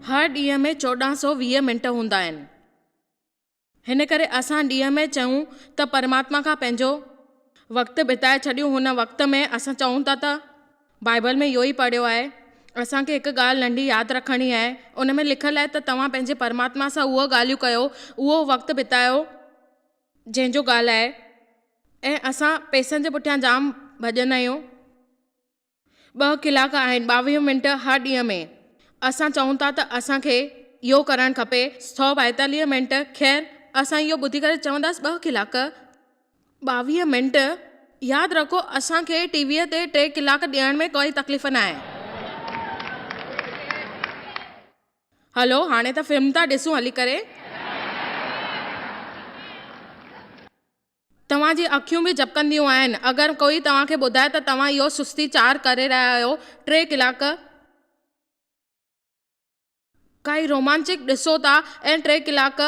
هر ڏينهن ۾ چوڏهن سؤ ويهه منٽ هوندا آهن. هن ڪري اسان ڏينهن ۾ چيون ته پرماتما کان پنهنجو وقت بتائي ڇڏيون هن وقت ۾ اسان چئون ٿا ته بائيبل ۾ اهو ئي پڙهيو آهي. اسان کي هڪ ڳالهه ننڍي ياد رکڻي آهي. ان ۾ لکيل آهي ته توهان پنهنجي پرماتما سان اهي ڳالهيون ڪيو، اهو وقت بتايو جنهن جو ڳالهائي ۽ اسان پئسن جي پٺيان جام ڀڄندا آهيون. ٻه ڪلاڪ آهن، ٻاويهه منٽ هر ڏينهن ۾. اسان چئون ٿا ته اسان کي اهو ڪرڻ کپي، سؤ ٻائيتاليهه منٽ، خير، اسان اهو ٻڌي ڪري چونداس ٻه ڪلاڪ ٻاويهه منٽ ياد رکو اسان کي ٽي ويء تي ٽي ڪلاڪ ڏيڻ ۾ ڪائي تڪليف ناهي. هلو هاڻي ته فلم ٿا ڏسون هلي ڪري. توهان جي اکيون به جپڪنديون آهن اگر ڪوئي توهان کي ٻڌائي ته توهان اهو سستي چار ڪري رهيا آهيو ٽي ڪلاڪ. ڪائي رومانچڪ ڏسو ٿا ۽ ٽي ڪلاڪ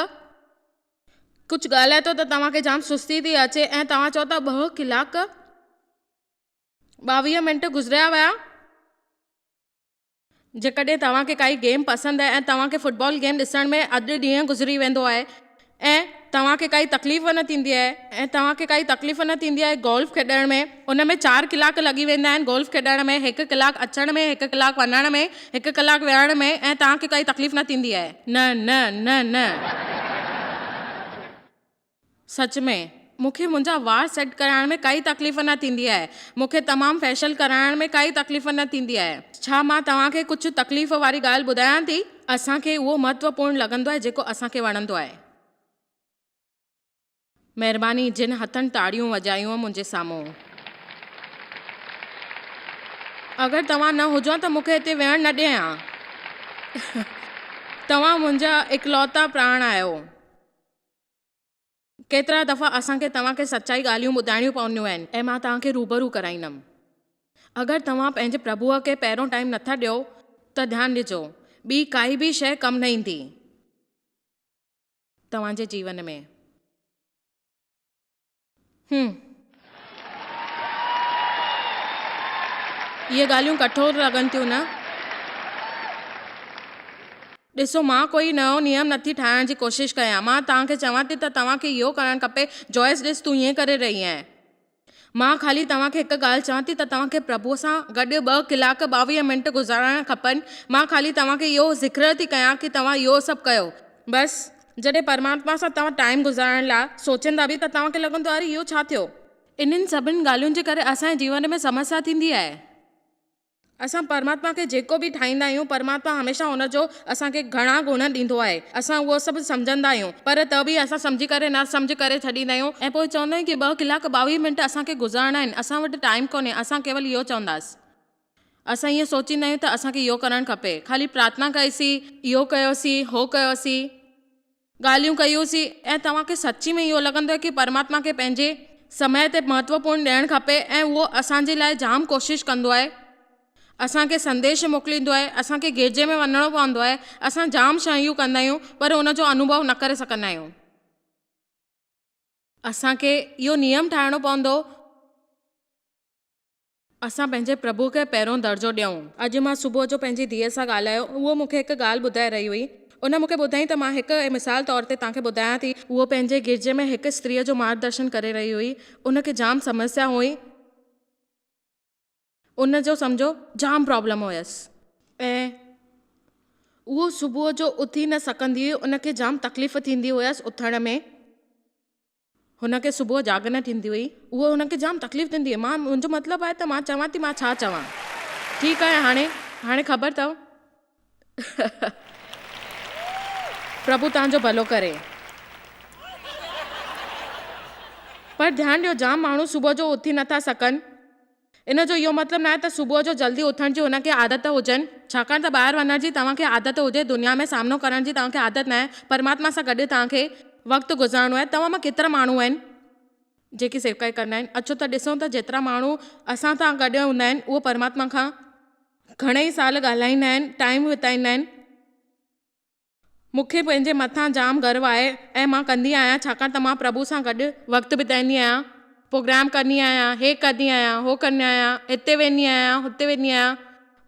ڪجهه ڳالهائي ٿو ته توهان کي جام سستي ٿي اچي ۽ توهان چئو ٿا ٻه ڪلاڪ ٻاويهه منٽ گذريا ويا. جيڪڏهن توهان کي ڪائي گيم پسند آهي ۽ توهان کي فٽبال گيم ڏسڻ ۾ اڌ ڏينهن گذري ويندو آهي ۽ توهان کي ڪائي تڪليف نه ٿيندي آهي ۽ توهان کي ڪائي تڪليف نه ٿيندي آهي گولف کيڏڻ ۾ ان ۾ چار ڪلاڪ لڳي ويندا آهن گولف کيڏڻ ۾ هڪ ڪلاڪ اچڻ ۾ هڪ ڪلاڪ وڃڻ ۾ هڪ ڪلاڪ ويهڻ ۾ ۽ توهان کي ڪائي تڪليف نه ٿيندي آهي نه نه نه نه سچ ۾. مون کي منهنجا وار سيٽ ڪرائڻ ۾ ڪائي تڪليف نه ٿيندي آهي. مون کي تمام فيشل ڪرائڻ ۾ ڪائي تڪليف نه ٿيندي آهي. ڇا مان توهان کي ڪجهه تڪليف واري ڳالهه ٻڌايان ٿي؟ اسان کي اهو مهتوپورن لڳندو آهي جيڪو اسان کي وڻندو آهي. مهرباني جن هٿن تاڙيون وڄايون منهنجي سامهون. اگر توهان نه هجان ته مون کي هتي ويهڻ نه ڏي هان. توهان منهنجا اڪلوتا پراڻ آهيو. ڪيترا دفعا اسان کي توهان کي سچائي ڳالهيون ٻڌائڻيون پونديون آهن ۽ مان توهان کي روبرو ڪرائيندم. اگر توهان پنهنجي پرڀوء کي پهريون ٽائيم نٿا ڏيو ته ڌيان ڏجو ٻي ڪائي به شيء ڪم نه ايندي توهان جي جيون ۾. هم. اهي ڳالهيون ڪٺور لڳن ٿيون نه؟ ڏسو مان ڪوئي نئون نيم نه ٿي ٺاهڻ جي ڪوشش ڪيان. مان توهان کي چوان ٿي ته توهان کي اهو ڪرڻ کپي. جوئس ڏس تون ائين ڪري رهي آهين. مان خالي توهان کي هڪ ڳالهه چوان ٿي ته توهان کي پرڀوء سان گڏ ٻه ڪلاڪ ٻاويهه منٽ گذارڻ کپن. مان خالي توهان کي اهو ذڪر ٿي ڪيان ڪي توهان اهو سڀ ڪيو. بس. جڏهن پرماتما سان توهان ٽائيم گذارڻ لاء سوچيندا به ته توهان کي لڳندو اري اهو ڇا ٿيو. انهن سڀني ڳالهين جي ڪري اسان جي جيون ۾ سمسيا ٿيندي آهي. اسان پرماتما کي جيڪو به ٺاهيندا آهيون پرماتما هميشه ان جو اسان کي گهڻا گڻ ڏيندو آهي. اسان اهو سڀ سمجهندا آهيون پر ته به اسان سمجهي ڪري نا سمجهه ڪري ڇڏيندا آهيون ۽ پوء چوندا آهيون ته ٻه ڪلاڪ ٻاويهه منٽ اسان کي گذارڻا آهن اسان وٽ ٽائيم ڪونهي اسان ڪيول اهو چونداسين اسان اهو سوچيندا آهيون ته اسان کي اهو ڪرڻ کپي. خالي پرارٿنا ڪئيسين، اهو ڪيوسين، هو ڪيوسين. ڳالهيون ڪيوسين ۽ توهان کي سچي ۾ اهو لڳندو آهي ته پرماتما کي پنهنجي سمي تي مهتوپورن ڏيڻ کپي ۽ اهو اسان جي لاء جام ڪوشش ڪندو آهي. اسان کي سنديش موڪليندو آهي، اسان کي گرجي ۾ وڃڻو پوندو آهي، اسان جام شيون ڪندا آهيون پر ان جو انوڀو نه ڪري سگهندا آهيون. اسان کي اهو نيم ٺاهڻو پوندو. اسان پنهنجي پرڀو کي پهريون درجو ڏيون. اڄ مان صبح جو پنهنجي ڌيء سان ڳالهايو، اهو مون کي هڪ ڳالهه ٻڌائي رهي هئي. ان مون کي ٻڌائين ته مان هڪ مثال طور تي توهان کي ٻڌايان ٿي. هوء پنهنجي گرجي ۾ هڪ استريء جو مارگدرشن ڪري رهي هئي. ان کي جام سمسيا هئي. ان جو سمجهو جام پرابلم هيس ۽ هوء صبح جو اٿي نه سگهندي هئي. ان کي جام تڪليف ٿيندي هيس اٿڻ ۾. هن کي صبح جاڳ نه ٿيندي هئي. اهو هن کي جام تڪليف ڏيندي هئي. مان، منهنجو مطلب آهي ته مان چوان ٿي مان ڇا چوان. ٺيڪ آهي هاڻي، هاڻي خبر اٿئو. پرڀو توهان جو ڀلو ڪري. پر ڌيان ڏيو جام ماڻهو صبح جو اٿي نه ٿا سگهن. ان جو اهو مطلب ناهي ته صبح جو جلدي اٿڻ جي هن کي عادت هجن، ڇاڪاڻ ته ٻاهر وڃڻ جي توهان کي عادت هجي، دنيا ۾ سامنو ڪرڻ جي توهان کي عادت ناهي، پرماتما سان گڏ توهان کي وقت گذارڻو آهي، توهان مان ڪيترا ماڻهو آهن، جيڪي سيوڪائي ڪندا آهن، اچو ته ڏسون ته جيترا ماڻهو اسان سان گڏ هوندا آهن، اهي پرماتما کان گهڻا ئي سال ڳالهائيندا آهن، ٽائيم بتائيندا آهن. مون کي پنهنجي مٿان جام گرو آهي ۽ مان ڪندي آهيان ڇاڪاڻ ته مان پرڀو سان گڏ وقت بتائيندي آهيان، پروگرام ڪندي آهيان، هي ڪندي آهيان، هو ڪندي آهيان، هتي ويندي آهيان، هتي ويندي آهيان،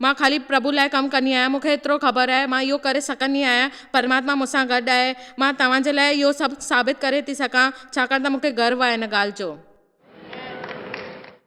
مان خالي پرڀو لاء ڪم ڪندي آهيان، مون کي ايترو خبر آهي مان اهو ڪري سگهندي آهيان، پرماتما مون سان گڏ آهي، مان توهان جي لاء اهو سڀ ثابت ڪري ٿي سگهان ڇاڪاڻ ته مون کي گرو آهي ان ڳالهه جو.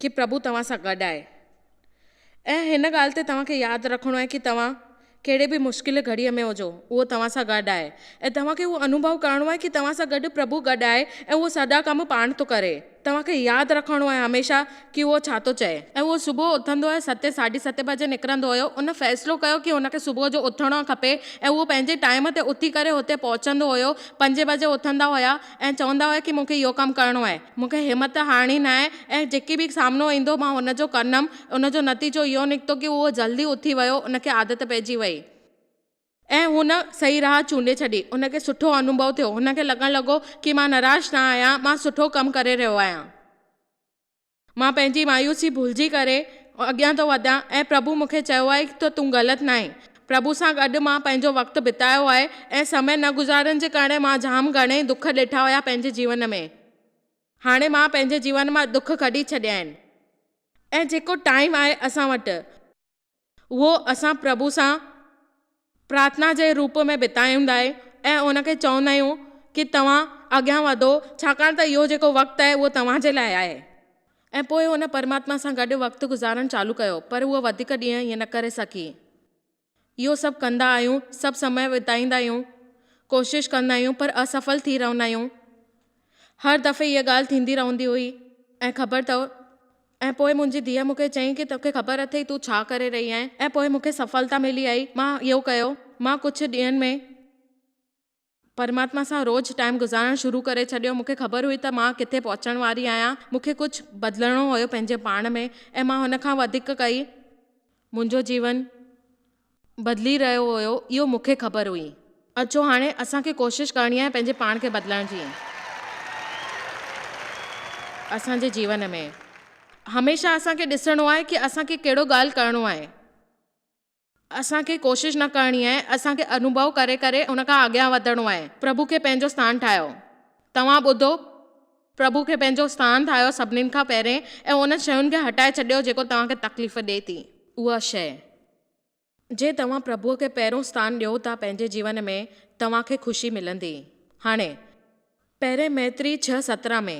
ڪي پرڀو توهان سان گڏ آهي ۽ هن ڳالهه تي توهان کي ياد رکڻو آهي ڪي توهان ڪهڙي به مشڪل گهڙي ۾ هجو اهو توهان سان گڏ آهي ۽ توهان کي اهو انوڀو ڪرڻو آهي ڪي توهان سان گڏ پرڀو گڏ آهي ۽ اهو سڄا ڪم پاڻ ٿو ڪري توهان کي ياد رکڻو آهي هميشه ڪي اهو ڇا ٿو چئي. ۽ اهو صبح اٿندو ۽ ستين ساڍي ستين بجي نڪرندو هيو ان فيصلو ڪيو ڪي هن کي صبح جو اٿڻو کپي ۽ اهو پنهنجي ٽائيم تي اٿي ڪري هتي پهچندو هيو پنجين بجي اٿندا هيا. ۽ چوندا هئا ڪي مون کي اهو ڪم ڪرڻو آهي. مون کي همت هارڻي ناهي ۽ جيڪي به سامنو ايندو مان ان جو ڪندم. ان جو نتيجو اهو نڪتو ڪي هو جلدي اٿي ويو، ان کي عادت پئجي وئي. ۽ هن صحيح راهه چونڊي ڇڏي. هن کي سٺو انوڀو ٿيو. هن کي لڳڻ لڳو ڪي مان نراش نه آهيان، مان سٺو ڪم ڪري رهيو آهيان. مان پنهنجي مايوسي ڀلجي ڪري اڳيان ٿو وڌان ۽ پرڀو مون کي چيو آهي ته تون غلط ناهين. پرڀو سان گڏ مان پنهنجو وقت بتايو آهي ۽ سمي نه گذارڻ جي ڪرڻي مان جام گهڻي ئي دک ڏٺا هيا پنهنجي جيون ۾ هاڻي مان پنهنجي جيون مان دک ڪڍي ڇڏيا آهن ۽ جيڪو ٽائيم آهي اسان وٽ اهو اسان پرڀو سان پرارٿنا جي روپ ۾ بتائيندائين ۽ ان کي چوندا آهيون ڪي توهان اڳيان وڌو ڇاڪاڻ ته اهو جيڪو وقت آهي اهو توهان جي لاء آهي. ۽ پوء هن پرماتما سان گڏ وقت گذارڻ چالو ڪيو پر هوء وڌيڪ ڏينهن ائين نه ڪري سگهي. اهو سڀ ڪندا آهيون، سڀ سمي بتائيندا آهيون، ڪوشش ڪندا آهيون پر اسفل ٿي رهندا آهيون. هر دفعي اها ڳالهه ٿيندي رهندي هئي ۽ خبر اٿو ۽ پوء منهنجي ڌيء مون کي چيائين ڪي توکي خبر اٿئي تون ڇا ڪري رهي آهين ۽ پوء مون کي سڦلتا ملي آهي مان اهو ڪيو مان ڪجهه ڏينهن ۾ پرماتما سان روز ٽائيم گذارڻ شروع ڪري ڇڏيو مون کي خبر هئي ته مان ڪٿي پهچڻ واري آهيان مون کي ڪجهه بدلڻو هيو پنهنجي پاڻ ۾ ۽ مان هن کان وڌيڪ ڪئي منهنجو جيون بدلي رهيو هيو اهو مون کي خبر هئي. اچو هاڻي اسان کي ڪوشش ڪرڻي آهي پنهنجي پاڻ کي بدلڻ جي اسان جي جيون ۾ هميشه اسان کي ڏسڻو آهي ڪي اسان کي ڪهڙو ڳالهه ڪرڻو آهي اسان کي ڪوشش نه ڪرڻي آهي اسان کي انوڀو ڪري ڪري ان کان اڳيان وڌڻو آهي پرڀو کي پنهنجو سٿان ٺاهيو توهان ٻڌو پرڀو کي پنهنجو سٿان ٺاهيو سڀني کان پهرين ۽ انهن شين کي هٽائي ڇڏيو جيڪو توهان کي تڪليف ڏي ٿي اها شين جي توهان پرڀوء کي پهريون ستان ڏيو ته پنهنجي جيون ۾ توهان کي خوشي ملندي. هاڻي. پهرين ميتري ڇهه سترهن ۾.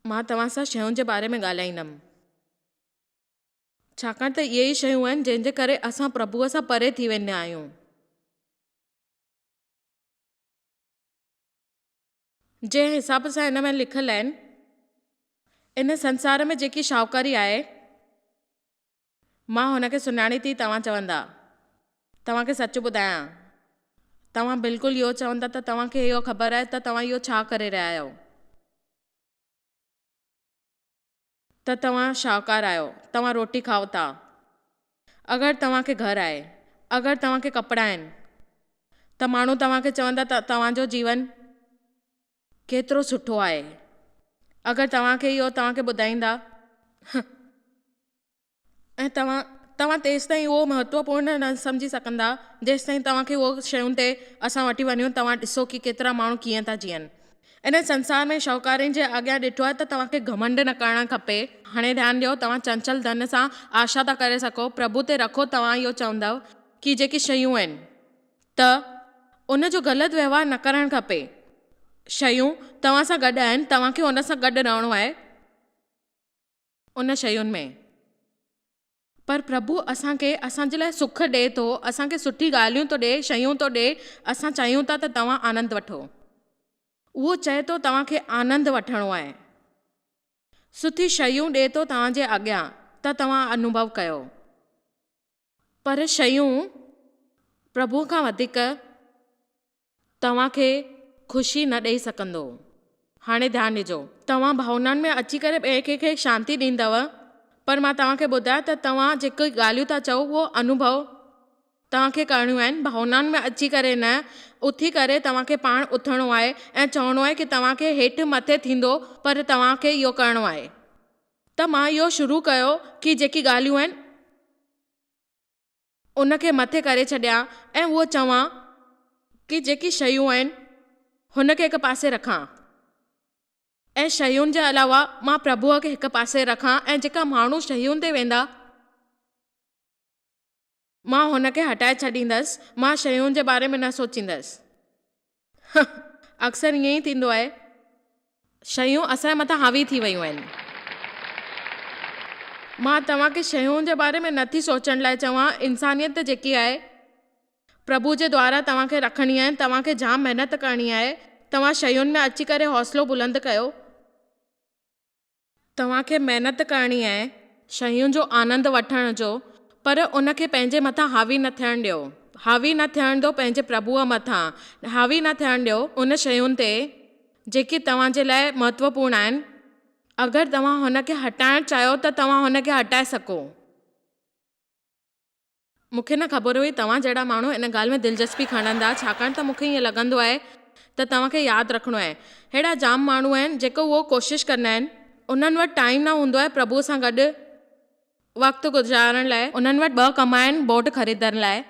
مان توهان سان شين جي باري ۾ ڳالهائيندم. ڇاڪاڻ ته اهي ئي شيون آهن جن جي ڪري اسان پرڀوء سان پري ٿي ويندا آهيون. جنهن حساب سان هن ۾ لکيل آهن، ان سنسار ۾ جيڪي شاهوڪاري آهي، مان هن کي سڃاڻي ٿي توهان چوندا، توهان کي سچ ٻڌايان، توهان بلڪل اهو چوندا ته توهان کي اهو خبر آهي ته توهان اهو ڇا ڪري رهيا آهيو. ته توهان شاهوڪار آهيو، توهان روٽي کائو ٿا، اگر توهان کي گهر آهي، اگر توهان کي ڪپڙا آهن ته ماڻهو توهان کي چوندا ته توهان جو جيون ڪيترو سٺو آهي، اگر توهان کي اهو توهان کي ٻڌائيندا ته. ۽ توهان توهان تيستائين اهو مهتوپورن نه سمجهي سگهندا جيستائين توهان کي اهي شيون تي اسان وٺي وڃون توهان ڏسو ڪي ڪيترا ماڻهو ڪيئن ٿا جيئن انهن سنسار ۾ شاهوڪارين جي آگيان ڏٺو آهي ته توهان کي گهمنڊ نه ڪرڻ کپي. هاڻي ڌيان ڏيو توهان چنچل ڌن سان آشا ٿا ڪري سگهو پرڀو تي رکو توهان اهو چوندؤ ڪي جيڪي شيون آهن ته ان جو غلط وهنوار نه ڪرڻ کپي شيون توهان سان گڏ آهن توهان کي ان سان گڏ رهڻو آهي. ان شين ۾، پر پرڀو اسان کي اسان جي لاء سک ڏئي ٿو، اسان کي سٺي ڳالهيون ٿو ڏئي، شيون ٿو ڏئي، اسان چاهيون ٿا ته توهان آنند وٺو. اهو چئي ٿو توهان کي آنند وٺڻو آهي. سٺي شيون ڏئي ٿو توهان جي اڳيان ته توهان انوڀو ڪيو. پر شيون پرڀوء کان وڌيڪ توهان کي خوشي نه ڏئي سگهندو. هاڻي ڌيان ڏجو. توهان ڀاونائن ۾ اچي ڪري ٻئي ڪنهن کي شانتي ڏيندؤ، پر مان توهان کي ٻڌايان ته توهان جيڪي ڳالهيون ٿا چئو اهو انوڀو توهان کي ڪرڻيون آهن، ڀاونائن ۾ اچي ڪري نه، اٿي ڪري توهان کي پاڻ اٿڻو آهي ۽ چوڻو آهي ڪي توهان کي هيٺ مٿي ٿيندو پر توهان کي اهو ڪرڻو آهي. ته مان اهو شروع ڪيو ڪي جيڪي ڳالهيون آهن ان کي مٿي ڪري ڇڏيان ۽ اهو چوان ڪي جيڪي شيون آهن هن کي هڪ پاسي رکان ۽ شيون جي علاوه مان پرڀوء کي هڪ پاسي رکان ۽ جيڪا ماڻهو شيون تي ويندا مان هن کي هٽائي ڇڏيندس، مان شيون جي باري ۾ نه سوچيندس. هه هه اڪثر ائين ئي ٿيندو آهي. شيون اسان جي مٿان حاوي ٿي ويون آهن. مان توهان کي شيون جي باري ۾ نه ٿي سوچڻ لاء چوان، انسانيت جيڪي آهي، پرڀو جي دوارا توهان کي رکڻي آهي، توهان کي جام محنت ڪرڻي آهي، توهان شيون ۾ اچي ڪري حوصلو بلند ڪيو. توهان کي محنت ڪرڻي آهي، شين جو آنند وٺڻ جو، پر ان کي پنهنجي مٿان حاوي نه ٿيڻ ڏيو، حاوي نه ٿيڻ ڏيو پنهنجي پرڀوء مٿان، حاوي نه ٿيڻ ڏيو ان شين تي جيڪي توهان جي لاء مهتوپورن آهن، اگر توهان هن کي هٽائڻ چاهيو ته توهان هن کي هٽائي سگهو. مون کي نه خبر هئي توهان جهڙا ماڻهو ان ڳالهه ۾ دلچسپي کڻندا ڇاڪاڻ ته مون کي ائين لڳندو آهي ته توهان کي ياد رکڻو آهي ههڙا جام ماڻهو آهن جيڪي اهو ڪوشش ڪندا آهن انهن وٽ ٽائيم نه هوندو آهي پرڀوء سان گڏ وقت گذارڻ لاء انهن وٽ ٻه ڪم آهن بوٽ خريدڻ لاء.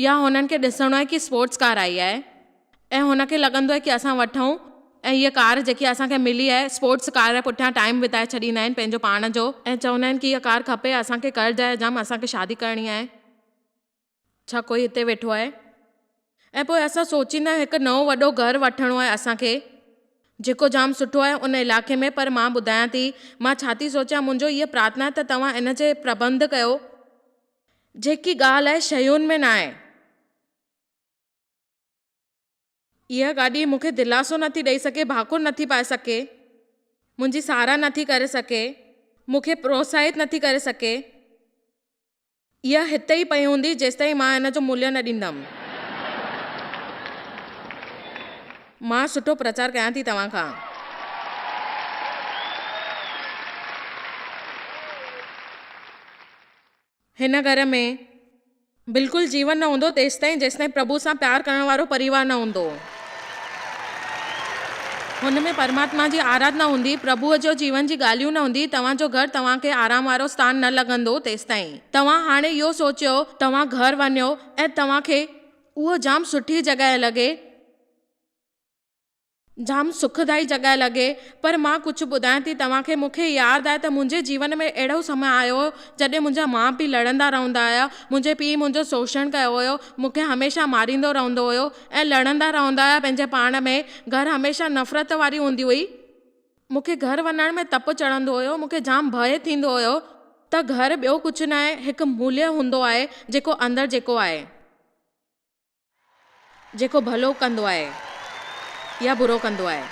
يا هنن کي ڏسڻو آهي ڪي اسپورٽس ڪار آئي آهي ۽ هن کي لڳندو آهي ڪي اسان وٺون ۽ هيء ڪار جيڪي اسان کي ملي آهي اسپورٽس ڪار جي پٺيان ٽائيم بتائي ڇڏيندا آهن پنهنجو پاڻ جو ۽ چوندا آهن ڪي هيء ڪار کپي اسان کي قرض آهي جام اسان کي شادي ڪرڻي آهي ڇا ڪوئي هتي ويٺو آهي ۽ پوء اسان سوچيندا آهيون هڪ نئون وڏو گهر وٺڻو آهي اسان کي جيڪو جام سٺو آهي ان علائقي ۾ پر مان ٻڌايان ٿي مان ڇا ٿي سوچيان منهنجو هيء پرارٿنا آهي ته توهان ان جي پربنڌ ڪيو. جيڪي ڳالهه اهي شيون ۾ ناهي. اها گاڏي مون کي دلاسو نٿي ڏئي سگهي، ڀاڪر نٿي پائي سگهي، منهنجي ساراهه نٿي ڪري سگهي، مون کي پروتساهت نٿي ڪري سگهي. اها هتي ئي پئي هوندي جيستائين مان ان جو ملهه نه ڏيندم. مان سٺو پرچار ڪيان ٿي توهان کان. هن گهر ۾ بلڪل جيون نه هوندو تيستائين جيستائين پرڀو سان پيار ڪرڻ وارو پريوار نه هوندو. هن ۾ پرماتما جي آرات نه هوندي، پرڀو جو جيون جي ڳالهيون نه هوندي، توهان جو گهر توهان کي آرام وارو ستان نه لڳندو تيستائين. توهان هاڻي اهو سوچيو توهان گهر وڃو ۽ توهان کي اهو جام سٺي جڳهه لڳي. جام سکدائي جڳهه لڳي پر مان ڪجهه ٻڌايان ٿي توهان کي مون کي ياد آهي ته منهنجي جيون ۾ اهڙو سمي آيو هو جڏهن منهنجا ماء پيء لڙندا رهندا هيا منهنجي پيء منهنجو سوشڻ ڪيو هيو مون کي هميشه ماريندو رهندو هيو ۽ لڙندا رهندا هيا پنهنجي پاڻ ۾ گهر هميشه نفرت واري هوندي هئي مون کي گهر وڃڻ ۾ تپ چڙهندو هيو مون کي جام ڀئي ٿيندو هيو ته گهر ٻيو ڪجهه ناهي هڪ موليه هوندو آهي جيڪو اندر جيڪو آهي. جيڪو ڀلو ڪندو آهي يا برو ڪندو آهي.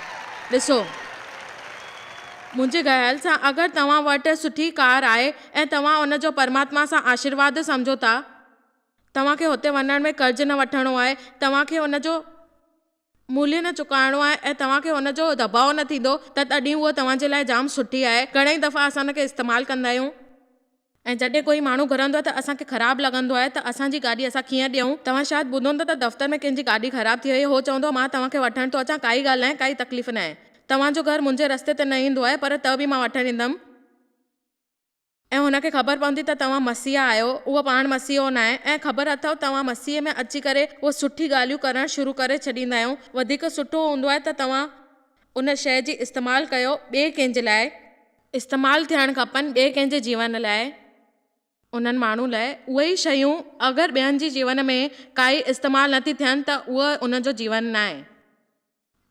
ڏسو، منهنجي گهيل سان اگر توهان وٽ سٺي ڪار آهي ۽ توهان ان جو پرماتما سان آشيرواد سمجهو ٿا، توهان کي هتي وڃڻ ۾ قرض نه وٺڻو آهي، توهان کي ان جو ملهه نه چڪائڻو آهي ۽ توهان کي ان جو دٻاء نه ٿيندو ته تڏهن اها توهان جي لاء جام سٺي آهي. گهڻئي دفعا اسان ان کي استعمال ڪندا آهيون. ۽ جڏهن ڪوئي ماڻهو گهرندو آهي ته اسان کي خراب لڳندو آهي ته اسان جي گاڏي اسان ڪيئن ڏيئون. توهان شايد ٻڌو هوندو ته دفتر ۾ ڪنهن جي گاڏي خراب ٿي وئي هو چوندو مان توهان کي وٺڻ ٿو اچان ڪائي ڳالهه ناهي ڪائي تڪليف ناهي توهان جو گهر منهنجي رستي تي نه ايندو آهي پر ته به مان وٺڻ ايندم. ۽ هن کي خبر پوندي ته توهان مسيح آهيو، هو پاڻ مسيحو ناهي، ۽ خبر اٿئو توهان مسيح ۾ اچي ڪري اهي سٺي ڳالهيون ڪرڻ شروع ڪري ڇڏيندا آهيون، وڌيڪ سٺو هوندو آهي ته توهان ان شيء جي استعمال ڪيو ٻئي ڪنهن جي لاء. استعمال ٿيڻ کپن ٻئي ڪنهن جي جيون لاء. انهن ماڻهن لاء اهي ئي شيون اگر ٻين جي جيون ۾ ڪا ئي استعمال نٿي ٿين ته اهو ان جو جيون ناهي.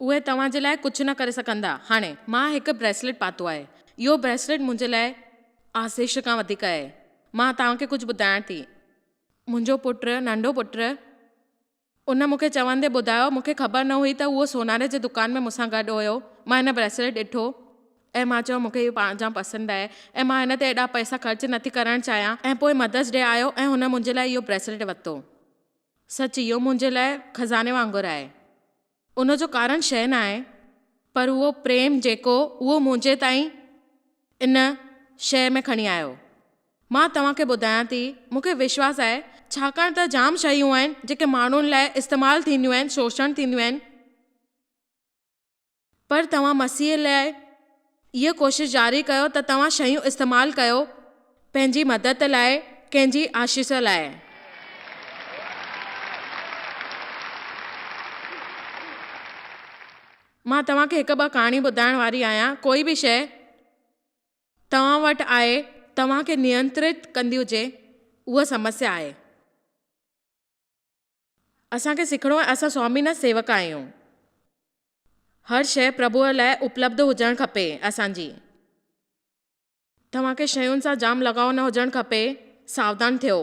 اهي توهان جي لاء ڪجهه نه ڪري سگهندا. هاڻي، مان هڪ بريسليٽ پاتو آهي. اهو بريسليٽ منهنجي لاء آسيش کان وڌيڪ آهي. مان توهان کي ڪجهه ٻڌائڻ ٿي. منهنجو پٽ، ننڍو پٽ، ان مون کي چوندي ٻڌايو، مون کي خبر نه هئي ته اهو سوناري جي دڪان ۾ مون سان گڏ هيو. مان هن بريسليٽ ڏٺو ۽ مان چيو، مون کي اهو پاڻ جام پسند آهي ۽ مان هن تي ايڏا پئسا خرچ نٿي ڪرڻ چاهيان ۽ پوء مدرس ڊي آيو ۽ هن منهنجي لاء اهو بريسليٽ ورتو. سچ اهو منهنجي لاء خزاني وانگر آهي. ان جو ڪارڻ شيء ناهي، پر اهو پريم جيڪو اهو منهنجي تائين ان شيء ۾ کڻي آيو. مان توهان کي ٻڌايان ٿي، مون کي وشواس آهي، ڇاڪاڻ ته جام شيون آهن، جيڪي ماڻهن لاء استعمال ٿينديون آهن، شوشڻ ٿينديون آهن. پر توهان مسيح لاء اها ڪوشش جاري ڪيو ته توهان شيون استعمال ڪيو پنهنجي مدد لاء ڪنهن جي آشيس لاء. مان توهان کي هڪ ٻه ڪهاڻي ٻڌائڻ واري آهيان ڪوئي به شيء توهان وٽ آهي توهان کي نينترت ڪندي هجي اها سمسيا آهي. اسان کي سکڻو آهي اسان سوامي نه سيوڪ آهيون هر شئي پرڀوء لاء اپلبڌ هجڻ کپي اسان جي توهان کي شين سان جام لڳاء نه هجڻ کپي ساودان ٿيو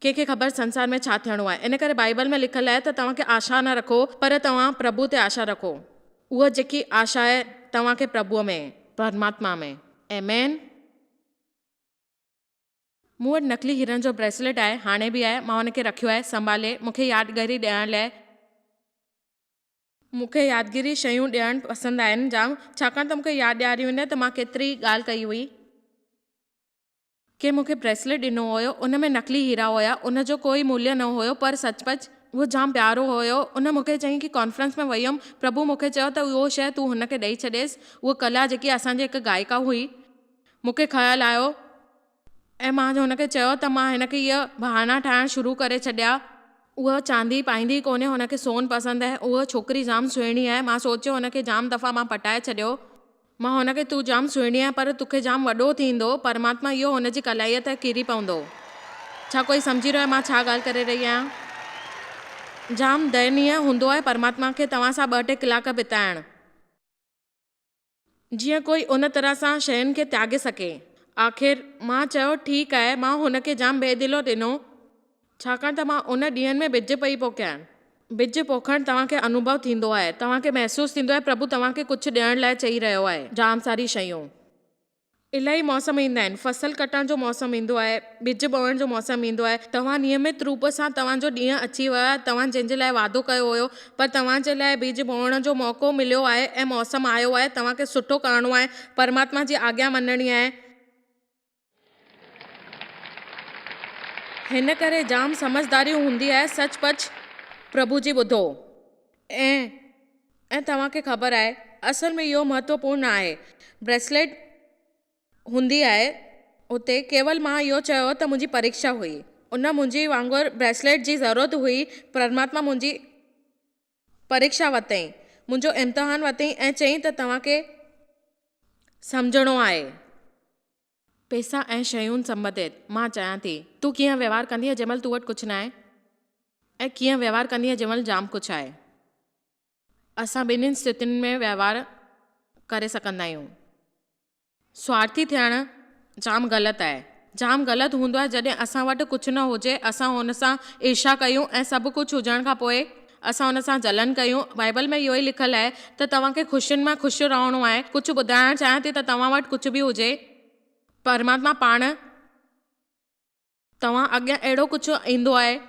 ڪنهن کي خبر سنسار ۾ ڇا ٿيڻو آهي ان ڪري بائيبل ۾ لکيل آهي ته توهان کي آشا نه رکو پر توهان پرڀوء تي آشا رکو اها جيڪي آشا آهي توهان کي پرڀوء ۾ پرماتما ۾ آمين. مون وٽ نقلي هيرن جو بريسليٽ آهي، هاڻي به آهي، مان ان کي رکيو آهي، سنڀالي، مون کي يادگري ڏيڻ لئه. مون کي يادگيري شيون ڏيڻ پسند آهن جام، ڇاڪاڻ ته مون کي ياد ڏياري ويندي ته مان ڪيتري ڳالهه ڪئي هئي. ڪنهن مون کي بريسليٽ ڏنو هيو، ان ۾ نقلي هيرا هيا، ان جو ڪو ئي موليه نه هيو، پر سچ پچ اهو جام پيارو هيو، ان مون کي چيائين ڪي ڪانفرنس ۾ وئي هيم، پرڀو مون کي چيو ته اهو شيء تون هن کي ڏئي ڇڏيس، اهو ڪلا جيڪي اسان جي هڪ گائيڪا هئي، مون کي خيال آيو ۽ مان هن کي چيو ته مان هن کي اهي بهانا ٺاهڻ شروع ڪري ڇڏيا. اهو چاندي پائيندي ئي ڪونهي، هن کي سون پسند آهي. اها ڇوڪري جام سهڻي آهي. مان سوچيو هن کي جام دفعا مان پٽائي ڇڏيو. مان هن کي تون جام سهڻي آهين پر توکي جام وڏو ٿيندو پرماتما اهو هن جي ڪلائيء تي ڪري پوندو. ڇا ڪوئي سمجهي رهيو آهي مان ڇا ڳالهه ڪري رهي آهيان. جام دينيه هوندو آهي پرماتما کي توهان سان ٻه ٽي ڪلاڪ بتائڻ. جيئن ڪوئي ان طرح سان شين کي تياڳي سگهي. آخر مان چيو ٺيڪ آهي مان هن کي جام بي دلو ڏنو ڇاڪاڻ ته مان ان ڏينهن ۾ ٻج پئي پوکيان. ٻج پوکڻ توهان کي انوڀو ٿيندو آهي. توهان کي محسوس ٿيندو آهي پرڀو توهان کي ڪجهه ڏيڻ لاء چئي رهيو آهي جام ساري شيون. الائي موسم ايندا آهن فصل ڪٽڻ جو موسم ايندو آهي ٻج ٻوهڻ جو موسم ايندو آهي توهان نيمت روپ سان توهان جو ڏينهن اچي ويو آهي توهان جنهن جي لاء وعدو ڪيو هيو پر توهان جي لاء ٻج ٻوهڻ جو موقعو مليو آهي ۽ موسم آيو آهي توهان کي سٺو ڪرڻو آهي پرماتما جي آگيا مڃڻي آهي هن ڪري جام سمجهداري هوندي آهي سچ پچ پرڀو جي ٻڌو. ۽ ۽ توهان کي خبر آهي اصل ۾ اهو مهتوپورن نه آهي بريسليٽ هوندي آهي هتي ڪيول مان اهو چيو ته منهنجي پريڪشا هئي ان منهنجي وانگر بريسليٽ جي ضرورت هئي پرماتما منهنجي پريڪشا ورتائين منهنجو امتحان ورتائين ۽ چيائين ته توهان کي سمجهڻو آهي. پئسا ۽ شيون سنبتيت، مان چيان ٿي، تون ڪيئن وهنوار ڪندينء جنهن مهل تو وٽ ڪجهه ناهي؟ ۽ ڪيئن وهنوار ڪندينء جنهن مهل جام ڪجهه آهي؟ اسان ٻنهين استيتين ۾ وهنوار ڪري سگهندا آهيون. سوارٿي ٿيڻ جام غلط آهي. جام غلط هوندو آهي جڏهن اسان وٽ ڪجهه نه هجي، اسان هن سان عرشا ڪيون ۽ سڀ ڪجهه هجڻ کان پوء اسان هن سان جلن ڪيون. بائيبل ۾ اهو ئي لکيل آهي ته توهان کي خوشين ۾ خوش رهڻو آهي. ڪجهه ٻڌائڻ چاهيان ٿي ته توهان وٽ ڪجهه به هجي، پرماتما پاڻ توهان اڳيان اهڙو ڪجهه ايندو آهي.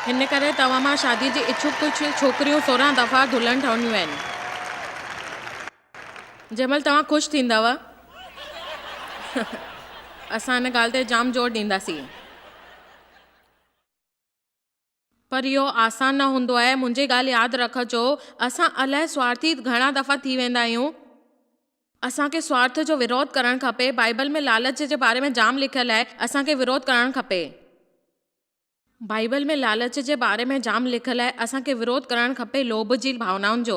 هن ڪري توهان مان شادي جي اڇوڪ ڪجهه ڇوڪريون سورهن دفعا دلهن ٺهنديون آهن. جنهن مهل توهان خوش ٿيندؤ اسان ان ڳالهه تي جام زور ڏينداسين. پر اهو آسان نه هوندو آهي. منهنجي ڳالهه ياد رکجو، اسان الاهي سوارٿي گهڻا دفعا ٿي ويندا آهيون. اسان کي سوارٿ جو وروڌ ڪرڻ کپي. بائبل ۾ لالچ جي باري ۾ جام لکيل آهي. اسان کي وروڌ ڪرڻ کپي. بائيبل ۾ لالچ جي باري ۾ جام لکيل آهي، اسان کي وروڌ ڪرڻ کپي لوڀ جي ڀاونائن جو،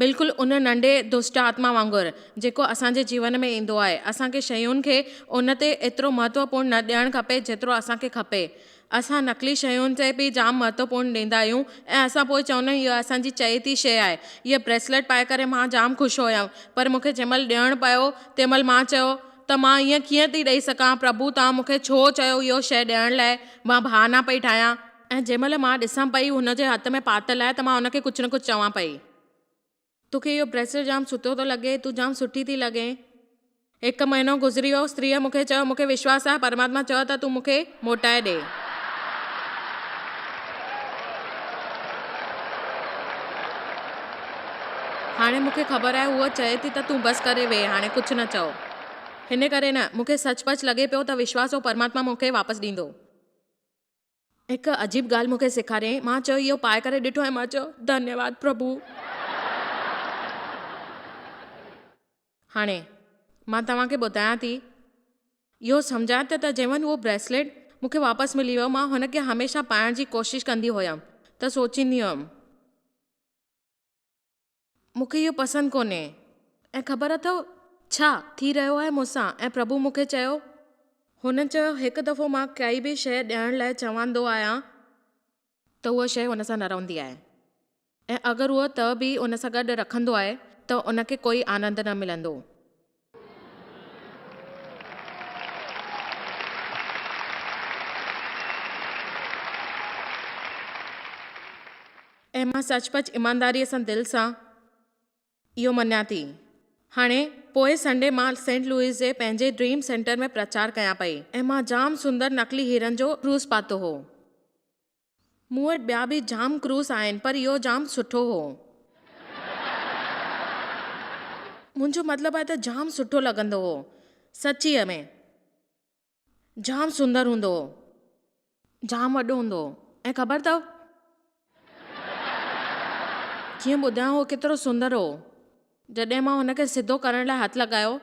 بلڪل ان ننڍي دشٽ آتما وانگر، جيڪو اسان جي جيون ۾ ايندو آهي. اسان کي شين کي ان تي ايترو مهتوپورن نه ڏيڻ کپي جيترو اسان کي کپي. اسان نقلي شين تي به جام مهتوپورن ڏيندا آهيون ۽ اسان پوء چوندا آهيون اها اسان جي چئي ٿي شيء آهي. هيء بريسليٽ پائي ڪري مان جام خوش هيم پر مون کي جنهن مهل ڏيڻ پيو تنهن مهل مان چيو، ته مان ائين ڪيئن ٿي ڏئي سگهان؟ پرڀو توهان مون کي ڇو چيو اهو شيء ڏيڻ لاء؟ مان بهانا پئي ٺاهيان. ۽ جنهن مهل مان ڏسان پئي هن جي هٿ ۾ پاتل آهي ته مان هن کي ڪجهه نه ڪجهه چوان پئي. تو کي اهو بريسليٽ جام سٺو ٿو لڳي. تون جام سٺي ٿي لڳين. هڪ مهينو گذري ويو. استريء مون کي چيو، مون کي وشواس آهي پرماتما چيو ته تون مون کي موٽائي ڏي. هاڻي مون کي خبر آهي هوء چئي ٿي ته تون بس ڪري ويهه هاڻي ڪجهه نه چئو. هن ڪري نه، مون کي سچ پچ لڳي پيو ته وشواس هو پرماتما مون کي واپس ڏيندو. هڪ عجيب ڳالهه مون کي سيکاريائين. مان چيو اهو پائي ڪري ڏٺو ۽ مان چيو ڌنيواد پرڀو. هاڻي مان توهان کي ٻڌايان ٿي اهو سمجهائي ته ته جيون اهو بريسليٽ مون کي واپس ملي ويو مان هن کي هميشه پائڻ جي ڪوشش ڪندي هيم ته سوچيندي هيم. مون کي اهو پسند ڪونهي. ۽ خبر اٿئو ڇا ٿي رهيو آهي مون سان؟ ۽ پرڀو مون کي چيو. هن چيو، هڪ دفعو مان ڪائي به شيء ڏيڻ لاء چواندو آهيان. ته اها شيء هن سان نه رهندي آهي. ۽ اگر اهو ته به ان سان گڏ رکندو آهي ته ان کي ڪوئي آنند نه ملندو. ۽ مان سچ پچ ايمانداريء سان دل سان اهو مڃان ٿي. هاڻي پوئين سنڊي مان سينٽ لوئيس جي پنهنجي ڊريم سينٽر ۾ پرچار ڪيان پئي ۽ مان جام سندر نقلي هيرن جو ڪروز پاتو هو. مون وٽ ٻيا به جام ڪروس آهن پر اهو جام سٺو هو. منهنجو مطلب آهي ته جام سٺو لڳندو هو. سچيء ۾. جام سندر هوندو هو. جام وڏو هوندو هو. ۽ خبر اٿو. ڪيئن ٻڌايان هو ڪيترو سندر هو. جڏهن مان هن کي سڌو ڪرڻ لاء هٿ لڳايو،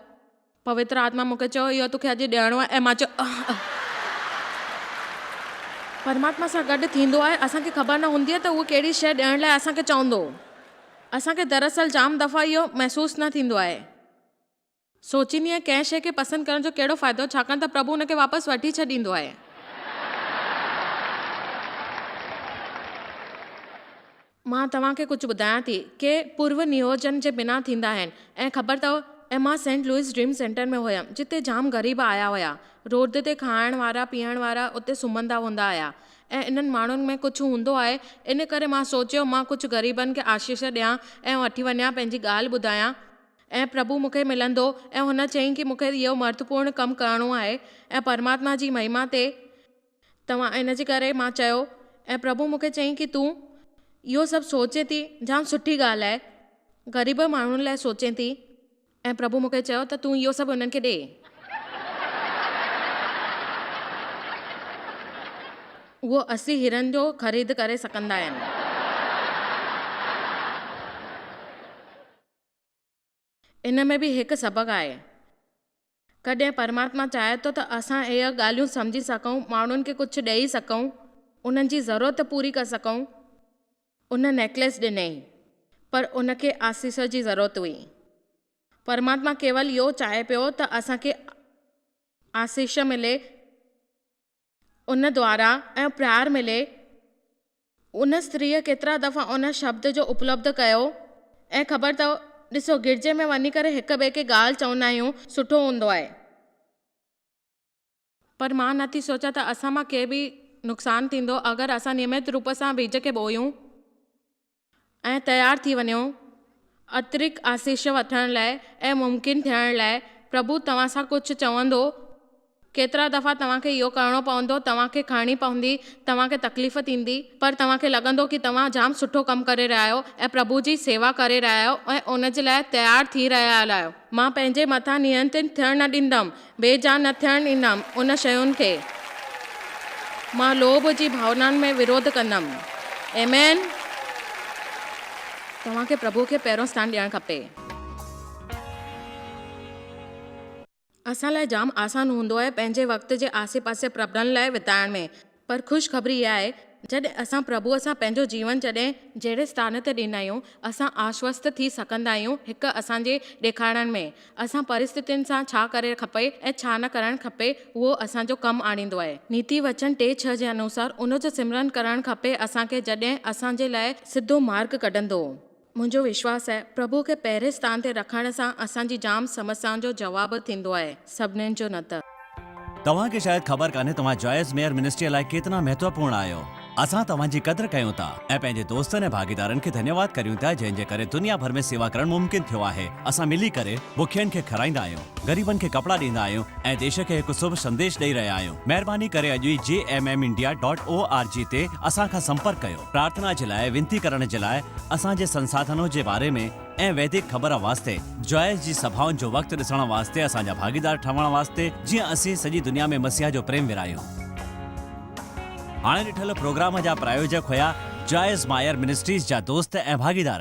پوتر آتما مون کي چيو، اهو توکي اڄ ڏيڻو آهي ۽ مان چيو، اهه اهه پرماتما سان گڏ ٿيندو آهي، اسان کي خبر نه هوندي آهي ته اهو ڪهڙي شيء ڏيڻ لاء اسان کي چوندو. اسان کي دراصل جام دفعا اهو محسوس نه ٿيندو آهي. سوچيندي آهيان ڪنهن شيء کي پسند ڪرڻ جو ڪهڙو فائدو ڇاڪاڻ ته پرڀو ان کي واپس وٺي ڇڏيندو آهي. مان توهان کي ڪجهه ٻڌايان ٿي ڪي پورو نيوجن جي بنا ٿيندا آهن ۽ خبر اٿئو ۽ مان سينٽ لوئس ڊريم سينٽر ۾ هيم جتي جام غريب آيا هيا روڊ تي کائڻ وارا پيئڻ وارا اتي سمهندا هوندا هيا ۽ انهن ماڻهن ۾ ڪجهه هوندو آهي ان ڪري مان سوچيو مان ڪجهه غريبن کي آشيش ڏيان ۽ وٺي وڃان پنهنجي ڳالهه ٻڌايان ۽ پرڀو مون کي ملندو ۽ هن چيائين ڪي مون کي اهو مهتوپورن ڪم ڪرڻو آهي ۽ پرماتما جي مهما تي توهان ان جي ڪري مان چيو ۽ پرڀو مون کي چيائين ڪي تون اهو سڀ سوچين ٿي جام سٺي ڳالهه آهي غريب ماڻهن لاء سوچين ٿي ۽ پرڀو مون کي چيو ته تون اهو سڀ انهن کي ڏي اهو اسي هيرن جو خريد ڪري سگهندا آهن. ان ۾ به هڪ سبق آهي. ڪڏهن پرماتما چاهي ٿو ته اسان اهي ڳالهيون سمجهي سگهون، ماڻهن کي ڪجهه ڏئي سگهون، انهن جي ضرورت پوري ڪري سگهون. ان نيڪليس ڏنئي، پر ان کي آسيس جي ضرورت هئي. پرماتما ڪيول اهو چاهي پيو ته اسان کي آسيس ملي. ان دوارا ۽ پرار ملي، ان اسٽريء ڪيترا دفعا ان شبد جو اپلبڌ ڪيو ۽ خبر اٿئو، ڏسو گرجي ۾ وڃي ڪري هڪ ٻئي کي ڳالهه چوندا آهيون، سٺو هوندو آهي. پر مان نه ٿي سوچيان ته اسان مان ڪي به نقصان ٿيندو اگر اسان نيمت روپ سان ويڄ کي ٻوهيون. ۽ تيار ٿي وڃو، اترڪ آسيش وٺڻ لاء ۽ ممڪن ٿيڻ لاء پرڀو توهان سان ڪجهه چوندو. ڪيترا دفعا توهان کي اهو ڪرڻو پوندو، توهان کي کڻڻي پوندي، توهان کي تڪليف ٿيندي، پر توهان کي لڳندو ڪي توهان جام سٺو ڪم ڪري رهيا آهيو ۽ پرڀو جي سيوا ڪري رهيا آهيو ۽ ان جي لاء تيار ٿي رهيا آهيو. مان پنهنجي مٿان نينترڻ ٿيڻ نه ڏيندم، بي جان نه ٿيڻ ڏيندم، ان شين کي مان لوڀ جي ڀاونائن ۾ وروڌ ڪندم. Amen. توهان کي پرڀو کي پهريون اسٿان ڏيڻ کپي. اسان لاء جام آسان هوندو آهي پنهنجي وقت جي آسي پاسي پرڀن لاء وتائڻ ۾. پر خوش خبري اها آهي جڏهن اسان پرڀوء سان پنهنجو جيون جڏهن جهڙي اسٽان تي ڏين آهيون، اسان آشوست ٿي سگهندا آهيون هڪ اسان جي ڏيکارڻ ۾، اسان پرستتين سان ڇا ڪرڻ کپي ۽ ڇا نه ڪرڻ کپي اهو اسان جو ڪم آڻيندو آهي. نيتي وچن ٽي ڇهه جي انوسار ان جو سمرن ڪرڻ کپي اسان کي جڏهن اسان جي لاء سڌو مارگ ڪڍندو. منهنجو وشواس آهي پرڀو کي پهرين ستان تي رکڻ سان اسان جي جام سمسيائن جو جواب ٿيندو آهي سڀنين جو نه ته. توهان کي شايد خبر ڪانهي توهان جوائس ميئر منسٽريء لاء ڪيترا مهتوپورڻ آهيو. اسان توهان جي قدر ڪيون ٿا ۽ پنهنجي دوستن ۽ ڀاڳيدارن کي ڌنيواد ڪريون ٿا جنهن جي ڪري دنيا ڀر ۾ سيوا ڪرڻ ممڪن ٿيو آهي. اسان ملي ڪري بکين کي کارائيندا آهيون، غريبن کي ڪپڙا ڏيندا آهيون ۽ ديش کي هڪ سڀ سنديش ڏئي رهيا آهيون. مهرباني ڪري اڄ ئي G M M India dot O R G تي اسان کان سمپرڪ ڪيو. پرارٿنا جي لاء وينتي ڪرڻ جي لاء اسان جي سنساڌنو جي باري ۾ ۽ ويدڪ خبر واسطي جوائس جي سڀائن جو وقت ڏسڻ واسطي اسان جا ڀاڳيدار ٺهڻ واسطي جيئن اسين سڄي دنيا ۾ مسيح جو پريم ورهايون. هاڻي ڏٺل پروگرام جا پرايوجڪ هيا جوائس مائر منسٽريز جا دوست ۽ ڀاڳيدار.